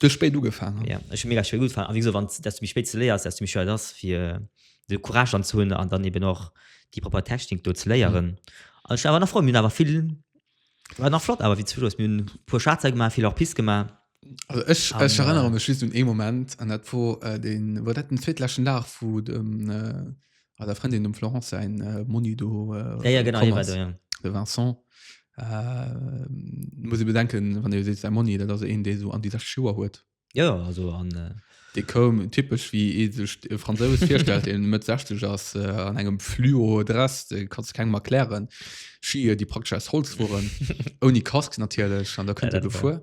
Du spéit ugefaangen. Ja, ech hu mega spéit ugefaangen. A wéi gesot, wann dass du méi spéit ze léiers, dass du méi schwéier et ass fir de Courage dann ze hunn an dann eben och déi propper Technik do ze léieren. Mhm. An ech war awer nach frou, mir hunn awer vill, war nach flott awer wéi zum Schluss. Mir hunn e puer Schlagzeilen gemaach, vill Hors-piste gemaach. Also ech, An, ech erënnere äh, mech just un ee Moment an dat wor äh, deen, war dat den zweetläschen Dag vu dem äh, A der Frendin dem Florence säin äh, Monni do äh, Ja, ja, genau, komm hie war ass. do, ja. de Vincent äh, muss e bedenken wann e seet säi Monni dat ass een dee so an déi 60 Joer huet Ja, ja, also an äh, dee koum typesch wéi ee sech e Fransous virstellt deen Mëtt 60 ass äh, an engem Fluo-Dress dee kanns de kengem erklären Schier déi praktesch aus Holz woren ouni Casque natierlech an da kënnt Ja, e dat war- gefuer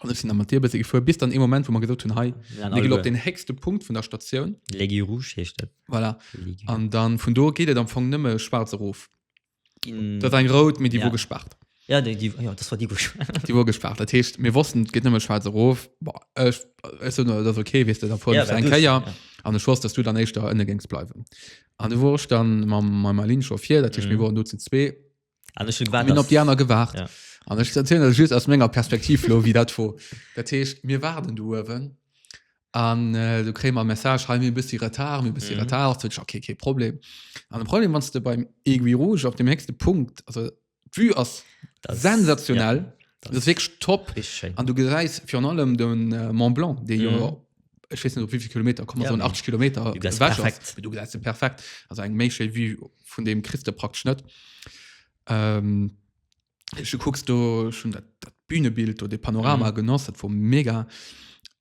Also ich sinn da mat dir bësse gefuer, bis dann ee Moment, wou mer gesot hunn, hei, Mir ginn op den héchste Punkt vun der Statioun. L'Aiguille Rouge heescht dat. Voilà. An dann vun do geet et am Fong nëmme schwaarz erof. Ginn. Dat ass eng rout, mee déi Ja. wor gespaart. Ja, déi, déi, ja, dat war déi, wou ech. Déi wor gespaart. Dat heescht, mir wossten, et geet nëmme schwaarz erof. Bon, ech, ech sot, dat ass okay, weess de, da fueren Ja, ech well eng du es- Kéier. ja. An ech wosst, dass du dann éischter ënne géings bleiwen. An du wor ech dann mam, mam Aline Chauffier, dat heescht, mir Mhm. woren do zu zwee. an ech hun gewaart, Hun op déi aner gewaart ja. an ech erzielen lech just aus menger Perspektiv lo wéi dat wor. Dat heescht mir waarden do uewen an äh, du kréie mer e Message, hei mir e bëssi Retard, mir e bëssi Mhm. Retard. Sot ech okay, kee Problem. An de Problem wann s de beim Aiguille Rouge op dem héchste Punkt, also d'Vue ass Das- sensationell, ja, das ist wirklich top. Richtig schéin. An du gesäis virun allem den äh, Mont Blanc, dee jo Mhm. ich weiß nicht ob wie viel Kilometer kann man ja, so 80 Kilometer du gehst perfekt du gehst perfekt also ein Mädchen wie von dem kriegst du praktisch nicht ähm, ich guckst du schon das, das Bühnebild oder Panorama mhm. genossen vom mega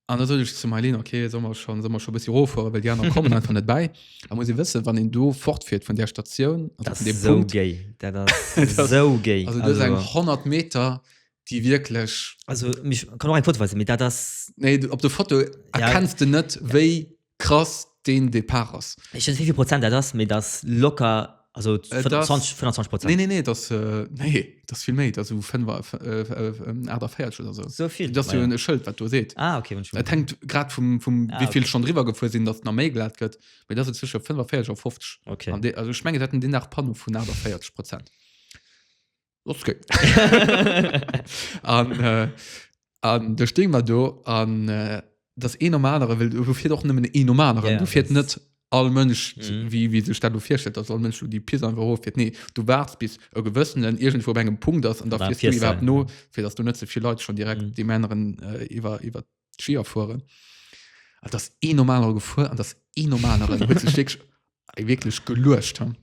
an soll ich zu Marlene okay soll man schon soll man schon ein bisschen hoch weil die anderen kommen einfach nicht bei da muss ich wissen wann ihn du fortfährt von der Station das ist so Punkt. gay das ist so gay also, also. 100 Meter déi wierklech. Also ich kann och eng Foto weisen, mee dat ass. Nee, op der Foto erkenns ja. de net, wéi ja. krass deen Depart ass. Ech wéi vill Prozent dat ass, mee dat locker. Also 25 äh, Prozent. Nee, nee, nee, das, äh, nee, das viel méi also 5 84 oder so. So viel das ja. e Schëld wat du seet. Ah, okay, dat hängt grad vum, vum ah, wieviel okay. schon drwer gefuer sinn, dat na méi glat gëtt, méi dat zwischen 45 a 50. Okay. De, also schmenge dat den nach Pano vun 84 Prozent. Los geet. an, äh, an da stehen wir do an äh, das een am anderen will du fährt auch nëmmen een am anderen Ja, du fährt das- net all Mënsch Mhm. wie wie sech dat du firstellt dass all Mënsch du die Pi einfach hoch fährt nee du wartst bis e gewëssen en irgendwo op engem Punkt ass an da Dann fährst du fährst du, überhaupt ja. no fir dass du net so viel Leute schon direkt Mhm. die Männeren äh, iwwer iwwer Skier fuhren an das een normaler gefuhr an das een normaler huet sich wirklich, wirklich geluecht haben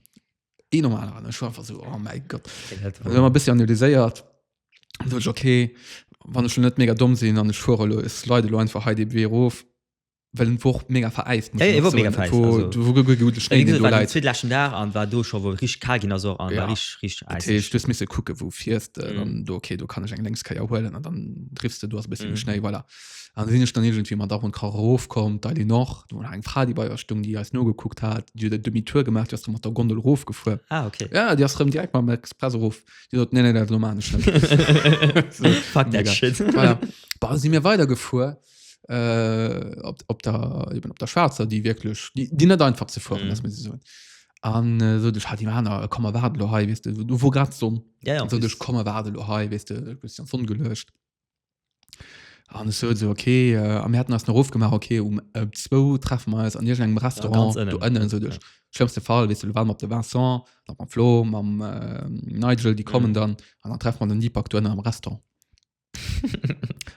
Dee normal an ech war einfach so oh mein Gott Den hält Dann hun mer bis analyséiert Dann so ech okay wann ech schon net mega domm sinn an ech fuere lo es leide lo einfach hei de Wee rof well en woch mega veräist muss Ja, een och soen. mega veräist, Et war- also. du war ge- gute Schnee Wéi deen gesot, do war den läit. zweet leschten Dag an war do scho wou et rich kal ginn ass och an Ja. war rich rich Dat äiseg. heescht du hues misse kucke wou fiers de Mhm. dann do okay do kann ech eng lénks Kéier huelen an dann driffs de do ass e bësse méi Mhm. Schnéi voilà An sinn ech dann irgendwie mat Ach und Krach erofkomm, d'Ail des Nord, do war nach eng Fra, déi bei eis stung, déi eis nogekuckt hat, déi huet e Demi-tour gemaach, déi ass da mat der Gondel erofgefuer. Ah, okay. Ja, déi ass rëm direkt mam Express erof. Déi sot, Nee, nee, dat elo maachen ech net. So, Fuck that mega. shit. Voilà. Bah, da si mir weidergefuer äh, op, op, der, eben op der Schwaarzer, déi wierklech, déi, déi net einfach ze fueren, Mhm. lass mir se soen. An äh, so, duch hat die Maner, äh, komm, erwaart lo hei, weißt du, du wor grad Sonn. Ja, ja, An so, duch komm, erwaart lo hei, weißt du, du bist an d'Sonn gelöscht. an so so okay äh, am hätten ass nach ofgemaach okay um äh, zwou treffen wir eis an ir engem ganz Restaurant innen. du ënnen so duch schlimmste Fall wis du waren op de Vincent nach mam Flo mam äh, Nigel die kommen Mhm. dann an dann treffen man den Deepak du ënnen am Restaurant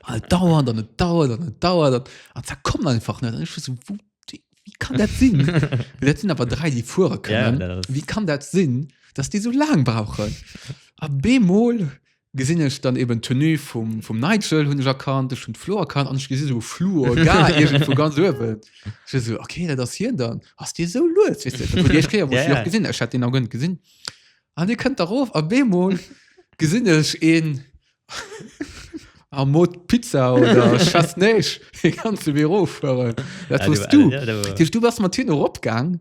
an et dauert an et dauert an et dauert an an da kommt einfach net an ich war so wo, wie wie kann dat sinn dat sinn awer drei die fuere Ja, können dat ass- wie kann dat sinn dass die so laang brauchen a bemol Gesin ech dann eben d'Tenue vum vum Nigel hun ech erkannt, ech hun d'Flo erkannt an ech gesin esou Fluor Gar iergendwou ganz uewen. Ech esou ok dat ass hien dann, ass dee esou lues weess de, dat war déi éischt Kéier wou ech deen och gesin, ech hat deen nach guer net gesin an dee kënnt da rof a beemol gesin ech een am Mode Pizza oder ech wess néisch dee ganze Büro fueren, dat wars du. Dat heesch du bass mat hinne rop gaang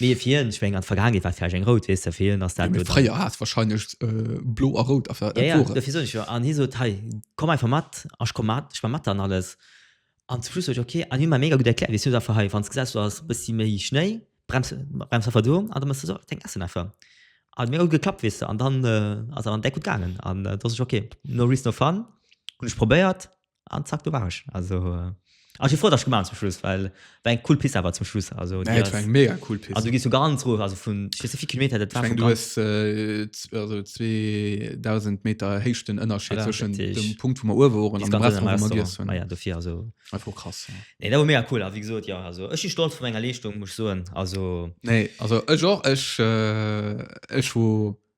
Mee fir hien, ech meng an der Vergaangenheet war et vläicht eng rout, weess de, fir hien ass dat elo dann. Fréier hat et wahrscheinlech blo a rout aféiert, dat wor et. Dofir soen ech jo, an hie sot, hei komm einfach mat a ech komm mat, ech war mat an alles. An zum Schluss sot ech, ok, an hie huet mer mega gutt erkläert, weess du, einfach hei wann s gesäis do ass e bëssi méi Schnéi, brems einfach do an da mëss de sou däin Ässen einfach. An huet mega gutt geklappt, weess de, an dann ass awer an d'Deck gutt gaangen an do sot ech, ok, no risk no fun, hunn ech probéiert. an zack do war ech also äh, also ich froh dass ich gemacht zum Schluss weil war eng cool Piste aber zum Schluss also nee, das, eng mega cool Piste also du gehst du ganz hoch also von spezifik Kilometer das war ich mein, du hast äh, also 2000 Meter Hechten Unterschied zwischen dem Punkt wo man oben waren und dem Rest wo man gegessen haben ah ja dafür also einfach krass ja. nee das war mega cool aber wie gesagt ja also ich bin stolz von meiner Leistung muss ich sagen also nee also ich auch ich äh, ich wo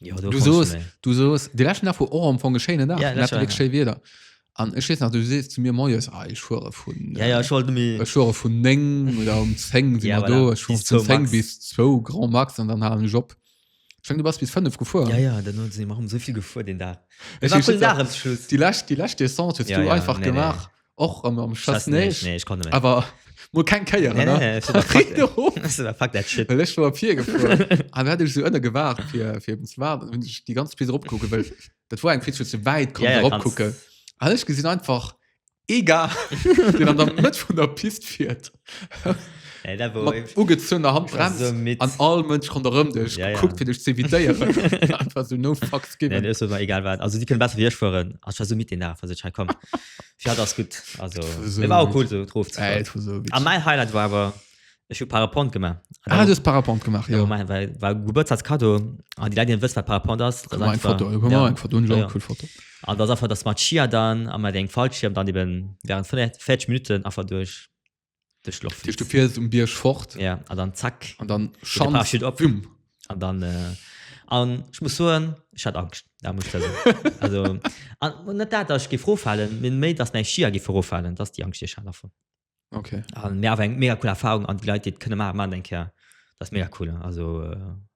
Jo, du soos du soos de lächen nach vu och am vu geschéine nach ja, sche wieder an ech nach du se zu mir moes ah, ich fuhre vu ja, ja, äh, fuhre vu neng oder um zeng ja, voilà. do ich bis, bis, max. bis zwo grand max an dann halen job Schon, du bas bis 5 gefu ja, ja, so gefu den da die lacht die lacht ja, ja, einfach nee, gemacht nee. Och ëmmer am Schass Schass neich. nee, ich konnte nicht. Awer mo keng Kéier Nee, nee, nee, fuck, fuck, fuck, fuck that shit. Ech war op hier gefuer. An hat ech so ënne gewaart fir fir eben ze waarden. Hunn ech déi ganz Pist opkucke wëll. Dat war eng Pist, wou ze wäit kon Ja, ja, ja, kannst- opkucken. An ech gesinn einfach egal den an der Mëtt vun der Pist fiert. Ey, dat war mat ugezunner Hand war bremst so midd. an all Mënsch ronderëm dech Ja, ja, ja. ja. guckt fir dech ze evitéieren einfach so no fucks Nee, given. nee, ist mir egal wat. Also die können besser wie ich fuhren. Also, ich war so mit den Nerven, also ich komm. Ja, das gut also so war cool so drauf äh, so ah, mein Highlight war aber ich parapont gemacht ah, das parapont gemacht ja. mein, weil, weil Geburtstag Kado an ah, die Leute wissen parapont das, das einfach, Foto, ja. Foto, ja, ja. Cool Foto. Und das einfach das Matschia dann an den Fallschirm dann eben während 40 Minuten einfach durch Duerch d'Loft Tisch, du flitzen. fiers um Bierg fort Ja, an dann zack. an dann Geht der Schand. Parachute op. Büm. An dann, äh, an ich muss soen, ich hat Angst. Da muss ich da soen. also, an, und net dat, dass ich geif roffallen, min méi, dass meng Skier geif roffallen, dass die Angst, die ich hat davon. Okay. An mir awer eng mega cool Erfahrung an die Leit, die et kënne maachen, maachen eng Kéier. Das ist mega cool. Also, äh,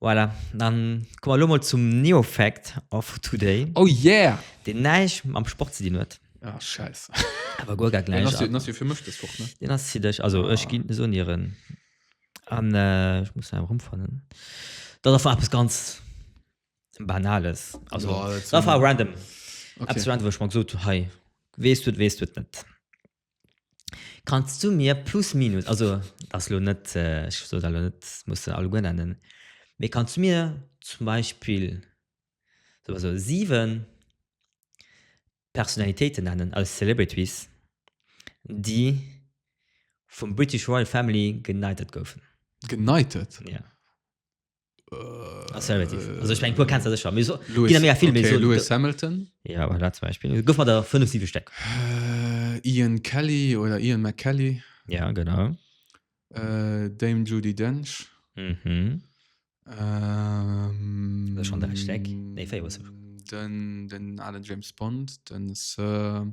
Voilà, dann komme mer elo mol zum Neofact of today. Oh yeah! Deen näischt mam Sport ze dinn huet. Ah, Schäisse. Awer guer gar Den ass jo, den näischt. ass jo fir mech dës Woch, ne? Deen ass fir dech. Also, ech ginn, soen dir en. An ech muss en erëmfannen. Dat ass eppes ganz Banales. Also, Jo, dat dat war war. random. Eppes Okay. random, wou ech mer gesot hunn, hei, weess du et, weess du et net. Kanns du mir plus minus, also dat ass elo net, ech soe dat elo net, dat muss de alleguer nennen, mee kanns du mir zum Beispill, soe mer sou, siwen Personalitéiten nennen aus Celebrities, déi vum British Royal Family geknightet goufen? Geknightet? Jo. Ass relativ. Also ich mein, puer kennst du sicher. Mir so, Lewis, gehen da mega viel, okay, mir so, Lewis Hamilton. Ja, aber da zum Beispiel. Guck mal da, fünf, sieben Stück. Äh, Ian Kelly oder Ian McKelly. Ja, genau. Äh, Dame Judy Dench. Mhm. Ähm, Das ist schon der Steck. Nee, vier, was? Den, den alten James Bond, den Sir.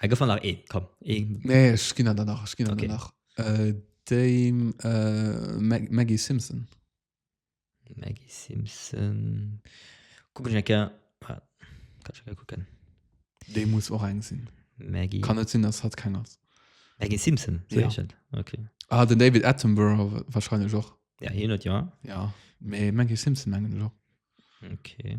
Hei gouf nach ee, komm. Ee. Nee, ech ginn da nach, ech ginn okay. nach. Äh, Dame äh, Mag Maggie Simpson. Maggie Simpson. Kuck ech enke. Ah, kann ich kucken. Dee muss och eng sinn. Maggie. Kann net sinn, ass hat keng ass. Maggie Simpson. Ja. Okay. Ah, den David Attenborough wahrscheinlich och. Ja, hin hat ja. Ja. Mee Maggie Simpson mengen ech och. Okay.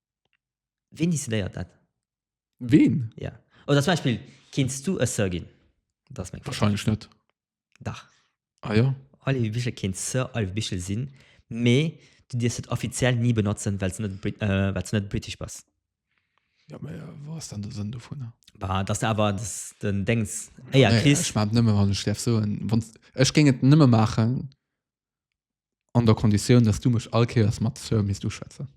Ween décidéiert dat? Ween? Ja. Oder zum Beispiel, kinns du e Sir ginn? Dat ass meng Fro. Wahrscheinlech net. Dach. Ah ja? Olive Bichel kéint Sir Olive Bichel sinn, mee du dierfs et offiziell ni benotzen, well s net, Brit äh, well s net British bass. Ja, mee wat ass dann de Sënn dovun? Bah, dass de awer dass den Déngs Éier Nee, kriss. ech maachen et nëmme, wann ech däerf soen. Wann, ech géing et nëmme maachen, an der Konditioun, dass du mech all Kéiers mat Sir misst uschwätzen.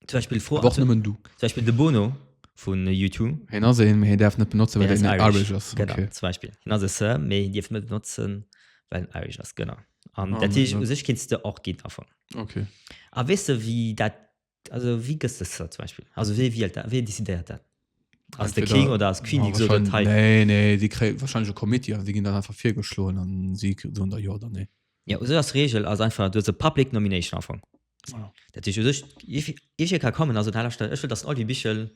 Zum Beispill fro Awer och nëmmen du. zum Beispill de Bono vu U2, Hien ass een, mee hien däerf net benotzen, well hien hien ass net Irish. Irish ass. Genau, Okay. zum Beispill. Hien ass e Sir, mee hien dierf net benotzen, well en Irish ass. Genau. An Ah, dat heescht, u sech kéints de och ginn, am Fong. Okay. A weess de, wéi dat Also wéi gëss de se zum Beispill? Also wee wielt dat? Wee decidéiert dat? Ass de Entweder- King oder ass d'Queen, déi gesot huet, hei? Nee, nee, déi kréie wahrscheinlech e Committee an déi ginn dann einfach virgeschloen an si soen da jo oder nee. Ja, esou ass d'Reegel, ass einfach, du hues e Public Nomination am Fong. Voilà. Dat heescht u sech, if- if je ka kommen, also dat ech wëll, datt den Olivier Bichel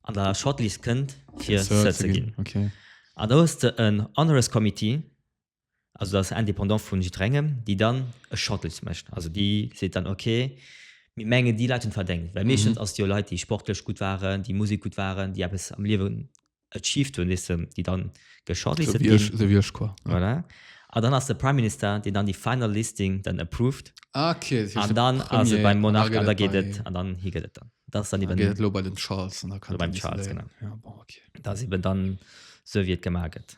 an der Shortlist kënnt, fir Sir Sir ze ginn. Okay. An da hues de en Honoris Committee, also dat ass indépendant vu jiddwerengem, déi dann e Shuttle mécht. Also déi seet dann, ok, mir mengen déi Leit hunn et verdéngt. Well meeschtens ass et jo Leit, déi sportlech gutt waren, déi Musek gutt waren, déi eppes am Liewen achieved hunn, weess de, déi dann ge-shortlisted ginn. Esou wéi ech quoi. Voilà. An dann ass de Prime Minister, deen dann déi final listing dann approved. Ah ok, dat heescht An de dann ass et Premier, beim an da Monarch an gëtt da et geet et, bei, an dann hie gëtt et dann. Dat ass dann da eben, gëtt et elo bei den Charles an da kann beim den Charles, genau. décidéieren. Ja bon, ok. dat ass eben dann esou wéi et gemaach gëtt.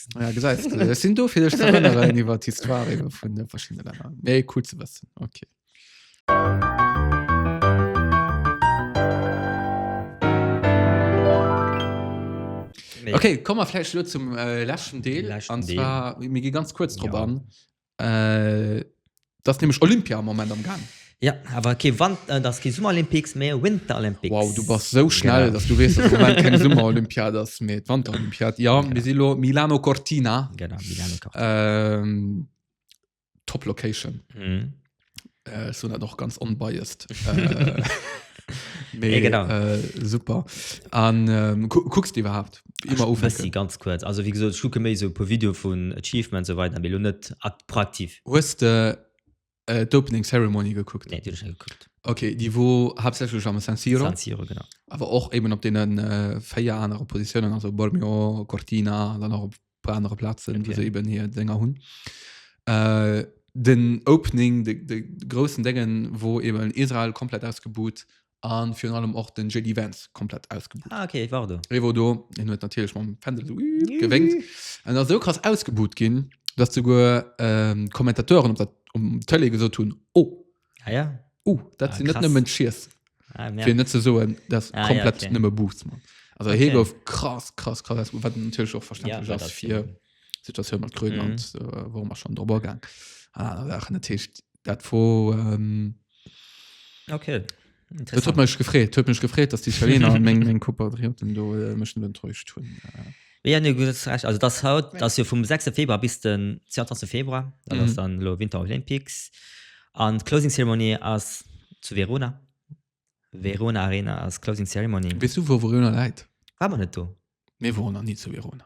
Ja, gesäits du. Ech sinn do fir dech ze erënneren iwwer d'Histoire iwwer vun de verschiddene Länner. Méi cool ze wëssen. Okay. Nee. Okay, komm mer vläicht lo zum äh, leschten Deel. Leschten an Deel. zwar, mir gi ganz kurz drop Ja. an. Äh, das ist nämlich Olympia am Moment am Gang. Ja, aber okay, wann, äh, das ist Summer Olympics, mehr Winter Olympics. Wow, du bist so schnell, genau. dass du weißt, dass Moment keine Summer Olympiad ist, mehr Winter Olympiad. Ja, genau. Misilo, Milano Cortina. Genau, Milano Cortina. Ähm, top Location. Mhm. Äh, so dat och ganz onbiased. Äh, nee, Ja, genau. äh, super. An ähm, gu kucks du iwwerhaupt immer Ech bëssi, of? ganz kuerz. Also wéi gesot, ech kucke méi sou e puer Video vun Achievements sou weider, mee lo net ak proaktiv. Hues de äh, d'Opening Ceremony gekuckt? Nee, déi hunn ech net gekuckt. Okay, déi wor haaptsächlech am San Siro, San Siro, genau. awer och eben op deenen äh, véier anere Positiounen, also Bormio, Cortina, dann och op op anere Platzen okay. se eben hier Sänger hunn. Äh, den Opening de, de großen Dingen wo eben Israel komplett ausgebucht an für allem auch den JD Vance komplett ausgebucht ah, okay, war du Revo do en huet natierlech mam Fändel so gewéngt an ass sou krass ausgebucht ginn, datt souguer, ähm, d'Kommentatoren op der um Tele gesot hunn: Oh, ah, ja. Uh, dat ah, sinn net nëmmen Schiers. Ah, ja. net ze soen, dat ah, komplett ja, okay. nëmme Boots man. Also okay. he gouf krass krass krass wat natürlich auch verständlich ja, fir Situation mat Grün mhm. und äh, wo man schon drüber gang. Ah, dat wo ähm, okay. Et huet mech gefreet huet mech gefreet, datt d'Italiener meng meng Kopatrioten do e bëssen enttäuscht hunn. Mee jo, du hues Recht. Also dass haut, dass jo vum 6 Februar bis den 22 Februar, dat ass dann elo Winter Olympics, an d'Closing Ceremony ass zu Verona, Verona Arena ass Closing Ceremony. Weess du wou Verona läit? War mer net do? Mir woren nach ni zu Verona.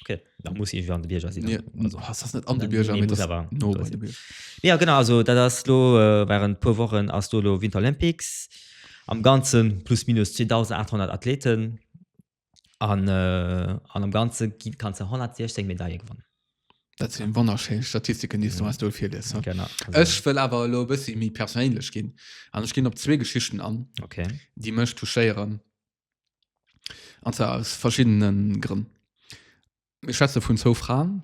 Okay, da muss ich an de Bierger sinn. Nee, also, das ist nicht an de Bierger, nee, nee, aber no bei de Bierger. Ja, genau, also dat ass lo äh, waren puer Wochen ass do lo Winter Olympics. Am ganzen plus minus 2800 Athleten an, äh, an am ganze kann ze 116 Medaille gewonnen. Dat sinn wonnerschéin Statistiken, déi du mhm. hast do fir des. Genau. Ech wëll awer lo bëssi méi persoéinlech ginn. An ech ginn op zwee Geschichten an, okay. déi mëch touchéieren. An zwar aus verschiddene Grënn. Mir schwätze vun zwou Fraen.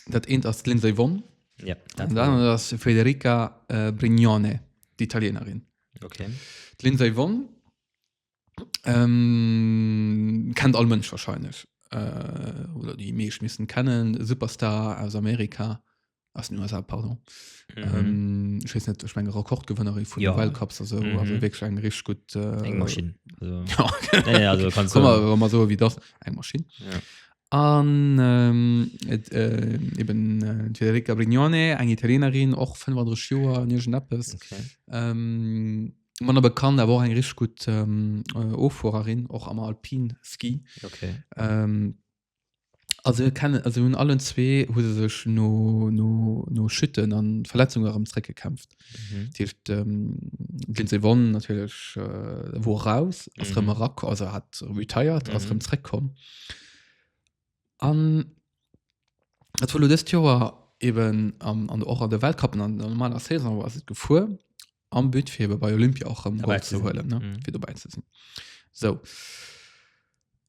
Dat eent ass d'Lindsey Vonn ja, an dat aner ass Federica äh, Brignone, d'Italienerin. Okay. D'Lindsey Vonn ähm, kennt all Mënsch wahrscheinlich. Äh, oder déi meescht missen kennen. Superstar aus Amerika. aus den USA pardon mhm. ähm, ich weiß nicht ich meine Rekordgewinnerin von ja. Weltcups also, mhm. also wirklich ein richtig gut äh, eng Maschine also, ja. nee, nee, also kannst du mal, mal so wie das eng Maschine ja. An ähm, et, äh, eben äh, Federica Brignone, eng Italienerin och 35 Joer an Egen Appes. Okay. Ähm, man aber kann der war eng rich gut ähm, äh, Offuererin och am Alpin Ski. Okay. Ähm, Also kennen also hunn allen zwee hu se sech no no no Chutten an Verletzungen erëm zréck gekämpft. Mhm. Dat heescht ähm, Lindsey Vonn natierlech äh, wor raus ass Mhm. rëm erak also hat retired ass Mhm. rëm zréck komm. An et war lo dëst Joer eben am an och an de Weltcup an an der normaler Saison ass et gefuer am But fir ebe bei Olympia och rëm Dabei Gold ze ze sinn. huelen ne Mhm. fir dobäi ze sinn. Sou.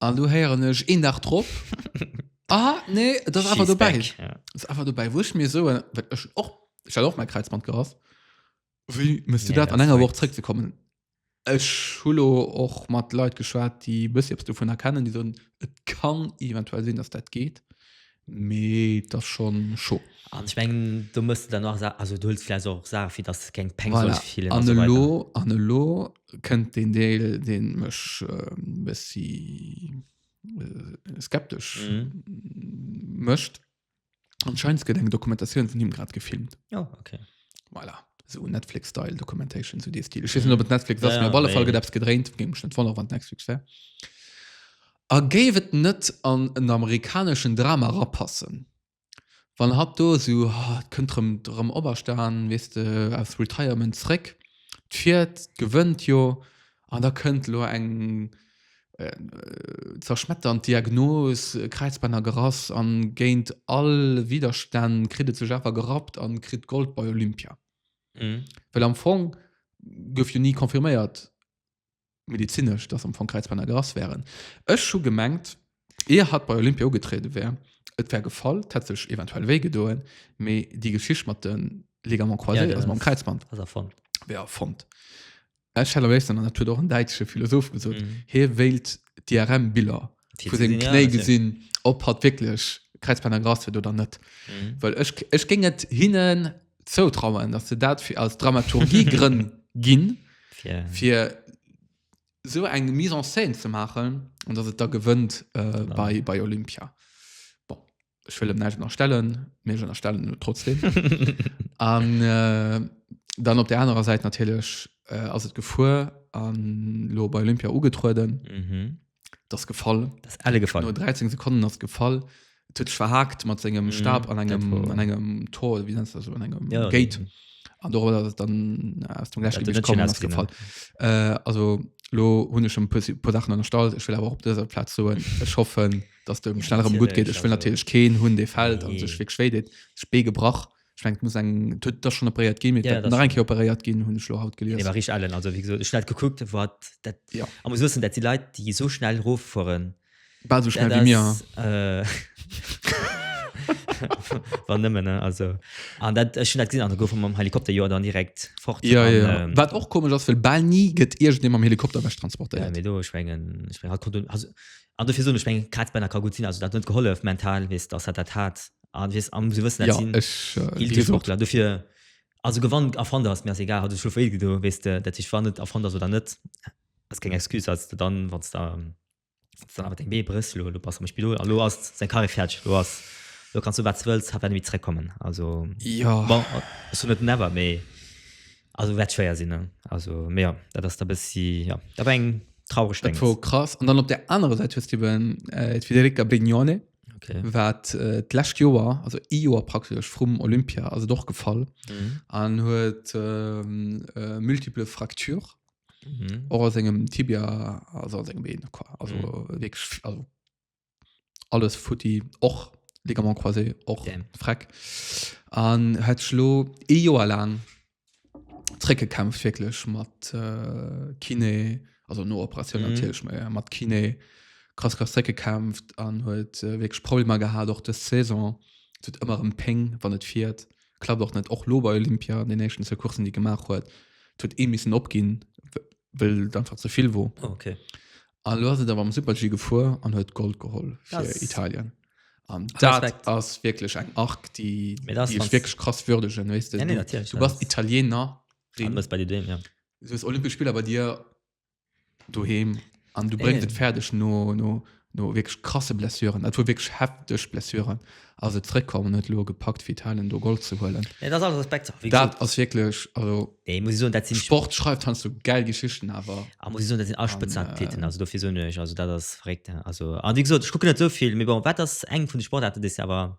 An du heieren ech een Dach drop ah nee das einfach du bei das einfach du bei wursch mir so och ich hatte auch mein Kreizband gerass wie müsst du ja, dat an enger Woche zurück zu kommen Ech hulo och mat Leiit geschwaart, déi bësse ops dovun erkennen, déi soen et kann eventuell sinn, dass dat geet. Mee et ass schon scho. An ech mengen do muss de dann och Sa also do huels de vläicht och Saache fir datt keng Peng soll Voilà. fillen a An sou elo, weider. an elo kënnt deen Deel deen mech e bëssi skeptesch mécht, Anscheinend gëtt eng Dokumentatioun vun him grad gefilmt. Oh okay. Voilà. Esou Netflix style documentation, esou dee Stil. Ech weess net op et Netflix ass, mee op alle Fall gëtt eppes gedréint, géing mech net wonnere wann et Nexflix wär. A géif et net an en amerikaneschen Drama rapassen, wann hatt do esou, et kënnt erëm, erëm operstan, weess de, aus Retirement zréck, fiert, gewënnt jo, an da kënnt elo eng zerschmetternd Diagnos, Kräizbännergerass, a géint all Widerstänn kritt et sech awer gerappt a kritt Gold bei Olympia. Well am Fong gouf jo ni confirméiert, medizinesch, dass am Fong Kräizbänner gerass wären. Ech hu gemengt, ier hatt bei Olympia ugetriede wär, et wär gefall, et hätt sech eventuell wéi gedoen, mee déi Geschicht mat de Ligaments croisés, ja, also mam Kräizband, wär erfonnt. Ech hätt am léifsten, an dat huet och en däitsche Philosoph gesot, mm. hie wéilt d'IRM-Biller vu sengem Knéi gesinn, ob hatt wierklech Kräizbänner gerass huet oder net. Well ech géing et hinnen zoutrauen, datt se dat fir aus Dramaturgiegrënn ginn, fir esou eng Mise en scène ze maachen an datt et da gewënnt bei Olympia. Ech wëll em näischt ënnerstellen, mee ech ënnerstellen em et trotzdem. An äh, dann op der anerer Säit natierlech äh, ass et gefuer an lo bei Olympia ugetrueden. Mhm. Das gefall. Das ist alle No gefallen. 13 Sekunden ass gefall. Et huet sech verhakt mat sengem Mhm, Stab an engem, dat war- an engem Tor, wie nennt das, an engem Ja, Gate. An darüber ass et dann äh, aus dem Dat Gleichgewicht net komm schön an ass gefall. Äh, also lo hunn ech schon e puer Si- puer Sachen ënnerstallt. Ech wëll awer och op dëser Plaz soen, ech hoffen, dass du schnell rem gut geht ich will natürlich keen hun de fällt an sech fir schwé det spee gebrach schwenkt muss eng tut das schon operiert gi mit enke operiert gin hun schlo haut gel war ich allen also wie gesagt ich net geguckt wat dat ja am muss wissen dat die leid die so schnell rof fuhren bald so schnell wie mir äh, war nëmmen ne also an dat ech net gesinn an gouf mam Helikopter Joer dann direkt fort ja, an, ja. Ähm, wat och komisch ass well bal nie gëtt ir dem am Helikopter weg transportiert ja, do schwngen ich mein, hat, hat, An dofir soen ech, meng Kaz Benna ka gutt sinn, also dat huet gehollef mental, weess dass hat dat hat an weess an si wëssen dat sinn Eeltesportler dofir, also gewann a verlder ass mir ass egal, hat ech scho wéi gedo weess de dat sech wann net a verlder ass oder net ass keng Excuse als de dann wann s de dann awer deng Bee brëchs lo lo bass am Spidol a lo ass seng Carrière fäerdeg lo ass lo kanns du wat s de wëlls hat werden ni zréckkommen also bon ech soen net never mee. Also wäert schwéier sinn, ne? Also, mee jo, dat ass da bëssi, jo, dat war eng traureg Dat Déngs. war krass. An dann op der anerer Säit hues du eben äh, d'Federica Brignone, Okay. wat äh, d'lescht Joer, also e Joer praktesch vrum Olympia, also doch gefall, Mhm. an huet ähm, äh, multiple Fraktur, Mhm. och aus engem Tibia, also aus engem Been, quoi. also Mhm. wirklich, vi- also alles futti och ligament croisé och Damn. freck an het schlo e Joer lang zréckgekämpft wirklich mat äh, Kiné also no Operation Mhm. natürlich mé mat Kiné krass krass zréckgekämpft an huet äh, wirklich Problemer gehabt och des Saison tut immer em Péng wann et fiert klappt och net och lo bei Olympia an den nächsten zwee Coursen die gemacht huet tut ee missen opginn well et einfach ze vill wor. Oh, okay. An lo ass et awer am Super-G gefuer an huet Gold geholl fir Das- Italien. An dat Respekt. ass wierklech eng Arc, déi Mee das déi ech ganz- wierklech krass würdegen, weess de. Ja, nee, Du- natürlich, Du das- bass Italiener, Du bist bei dir dem, ja. du hues Olympesch Spiller bei dir doheem an du Nee, bréngs nee. et fäerdeg no no no wierklech krasse Blessuren, dat wor wierklech hefteg Blessuren, ass et zréckkomm an huet elo gepackt fir Italien do Gold ze huelen. Nee, dat ass alles Respekt. Wéi Dat gesot, ass wierklech, also nee, muss ich soen, dat sinn Sport schreift heiansdo gäil Geschichten, awer Ah, muss ich soen, dat sinn all An, Spëtzen Athleten, äh, also dofir soen ech, also dat ass verréckt. Also, a wéi gesot, ech kucken net esou vill, mee bon, wat ass eng vun de Sportaarten, déi s de awer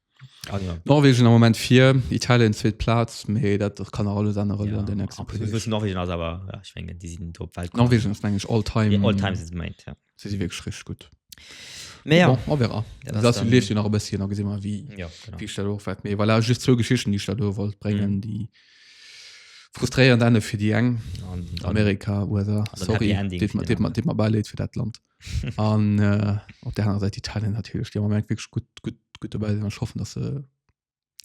Norwegen am Moment vir Italien zweet Plaz méi dat dat kann alles an Rolle an den nächsten Norwegen ass awer ech menggen déi sinn op Welt Norwegen ass mengg ech all time all time si méint ja si si wierklech rich gutt mä jo a wéra dat leeft jo nach e bësschen a gesi mer wéi jo genau wéi ech dat och wat méi voilà just zwou Geschichten déi ech der do wollt bréngen déi frustréierend Ende fir déi eng an Amerika USA sorry deet mer deet mer deet mer bäileed fir dat Land. an äh, op der anderen Seite Italien natürlich der Moment wirklich gut gut gut dabei sind schaffen dass se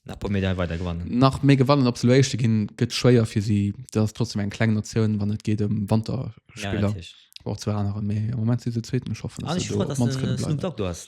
nach paar Medaille weiter gewannen nach mé gewannen op Loéischte ginn gëtt schwéier fir sie das trotzdem eng kleng Nationun wann net geht dem um Wanterspieler ja, auch zu anderen mé moment sie zweeten schaffen ah, dass sie so, dass du, dass du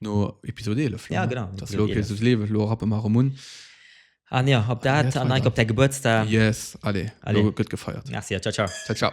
No Episod 11 lo, Ja, ne? genau, Das Episod lo, okay, 11. das Leben, lo rappen mer erëm un. An jo, op dat Yes, an Alter. Nike op däi Gebuertsdag. Yes, allez, Allez. lo gëtt gefeiert. Merci, ciao, ciao. Ciao, ciao.